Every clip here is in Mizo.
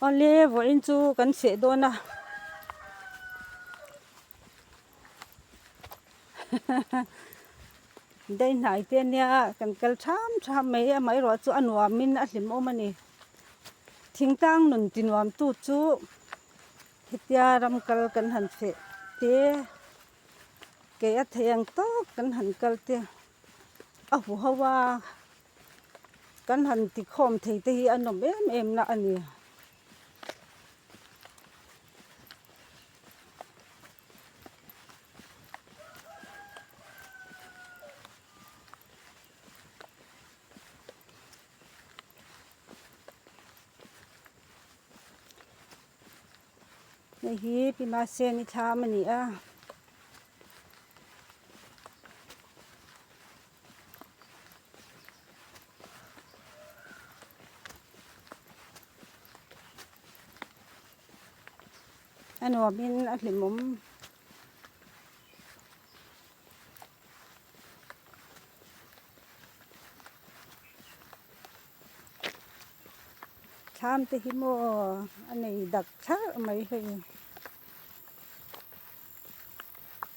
Awle vawh in chu kan chheh dawn a daihhnai te nia kan kal tham tham mai a amaherawhchu chu a nuam in a hlim awm a ni thing tang nun ti nuam tu chu hetia ram kal kan han chheh te kei a thei ang tawk kan han kal te a hu hova. Kan han tikhawm thei te hi a nawm em emna a ni. Hei hi Pimaseni thlam a ni a. a nuam in a hlimawm thlam te hi maw a nei dak tharh mai hei.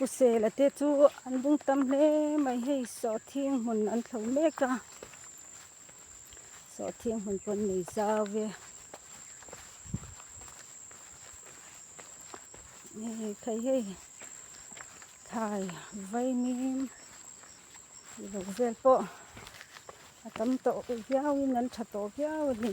Husela te chu an ding tam hle mai hei sawh thing hmun an tho mek a sawh thing hmun pawh nei zau e hei phei hei. Thlai vaimim lo vel pawh a tam tawh viauin an tha tawh viau a ni.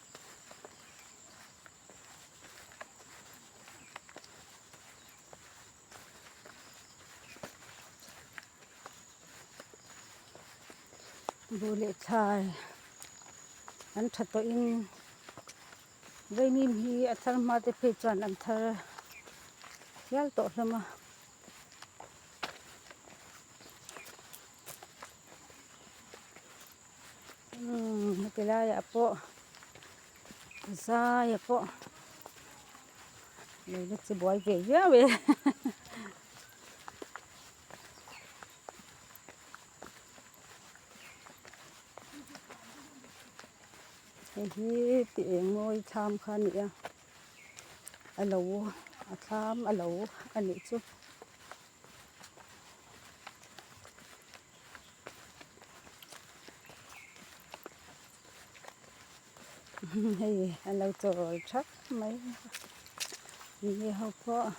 Duh leh thlai an tha tawhin vaimim hi a thar nghal te phei chuan an thar hial tawh hlawm a. Umm heti laiah pawh zai ah pawh leiba chu buai ve viau e hei hi ti eng mawi tham kha a ni a a lo a thlam a lo a nih chu. hei an lo chawl thap mai a ni ho pawh.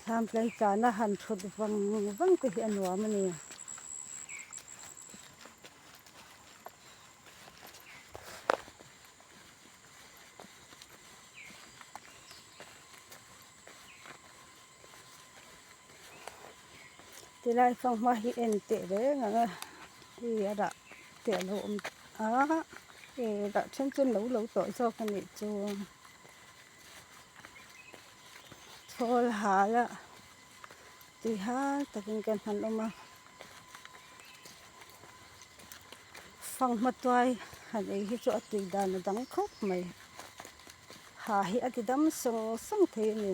Thlam tlai chan a han thut vang vang te hi a nuam a ni. ti lai fang hma hi en teh reng ang a hei hi a dah teh loh awm a hei a dah then chu no lo tawh zawk a nih chuang chhawl hal a ti hang takin kan han awm a. Fang hmatuai han ei hi chu a tui dan a dang khawp mai. Ha hi a ti dam sawng sawng thei a ni.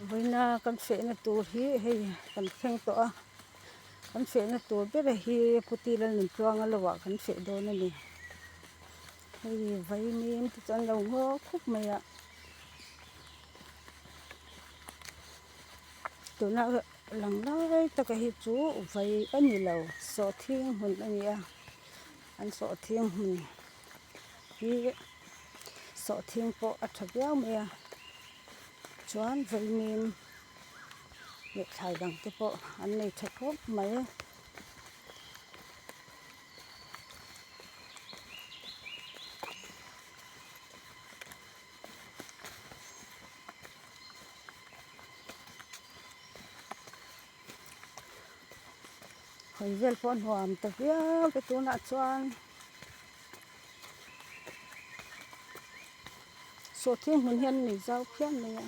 Vawiina kan fehna tur hi hei kan thleng tawh a. kan fehna tur bera hi puti lal nun tluanga lo ah kan feh dawn a ni hei vaimim te chu an lo nghawk khawp mai a tuna lang lai tak a hi chu vai a ni lo sawhthing hmun a ni a an sawhthing hmun hi sawhthing pawh a tha viau mai a chuan vaimim-- lehthlai dang te pawh an nei tha khawp mai a. Hawi vel pawh a nuam ta viau te tunah chuan. Saw thiang hmun hian nei zau phiah mai a.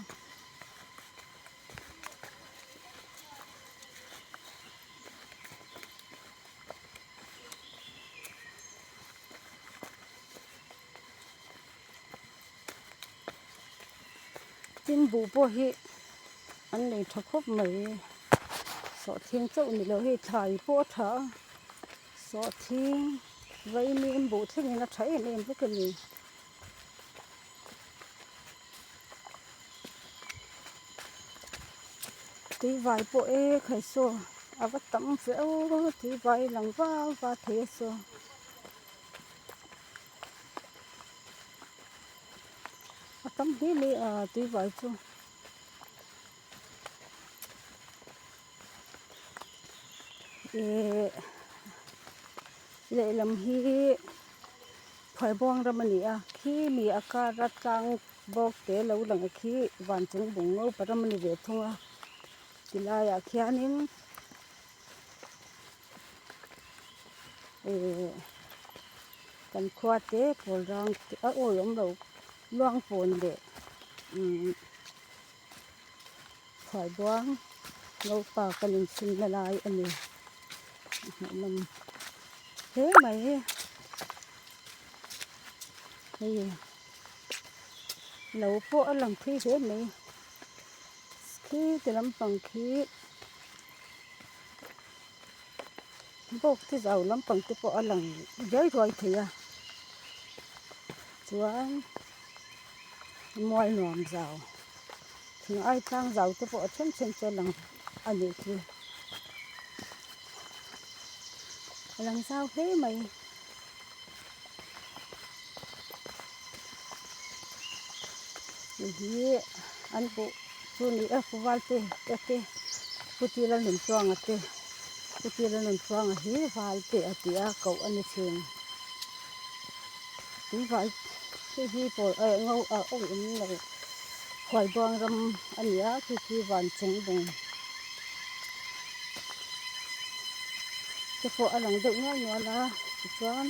Tin buh pawh hi an nei tha khawp mai. Saw thiang chauh ni loh hei thlai pawh a tha a. Sawhthing, vaimi in buh thleng in a tha em em bawk a ni. Tui vai pawh e khai saw a va tam feuh a, tui vai a lang vau va thei a saw. A tam hle mai a tui vai chu. Ihh lehlam hi Phuaibuang ram a ni a, khi mi a kara tlang bawk te lo lang ang khi vancung Bungopa ram a ni ve thung a. Ti laiah khianin ihh kan khuate Pawlrang te a awi awm lo, Luangpawn leh umm Khuaibuang naupa kan infinna lai a ni. A hnahnawm hle mai e. Hei no pawh a lang phui hle mai. Khi ti lampang khi bawk chi zau lampang te pawh a lang riai ruai thei a. Chuan. mual nuam zau thing ai tlang zau te pawh a then then chu a lang a ni chu a lang zau hle mai ni hi an buh chu ni e khawval te te te puti la nun chuanga te puti la nun chuanga hi val te a ti a koh a ni thin. Tui vah khi hi pawl eh ngo a awm awm lo huai bang ram a ni a khi khi van chung bung te pawh a lang deuh nual nual a tichuan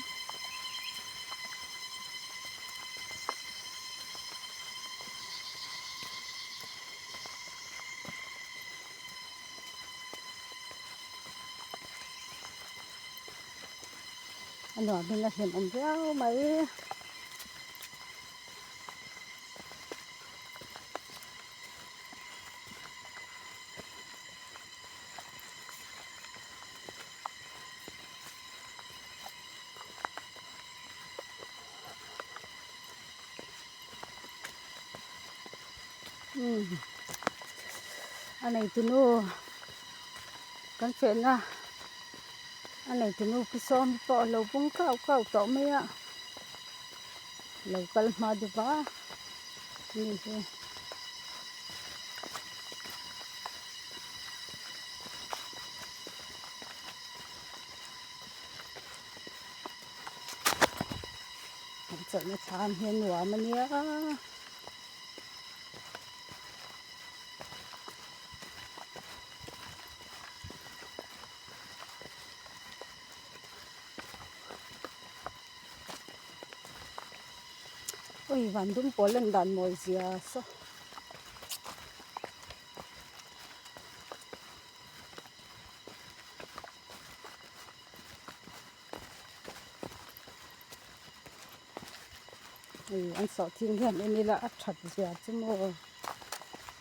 a nuam hming a hlim awm viau mai a nei tunu kan chenna. a nei tu nu pi sawm hi pawh a lo bawng kau kau tawh mai a lo kal hma dup a ni hi an chawlhna thlam hi a nuam a nia Ui van dum pawl an dan mawi zia sa. Ui an sawh thil hian en ila a that zia chu maw.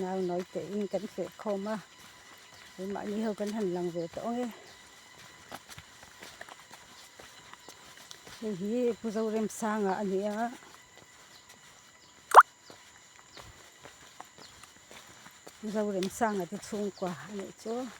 nau nawi tein kan hleh khawm a kei mah ni ho kan han lang ve tawh ang e hei hi pu zoremsanga a ni a.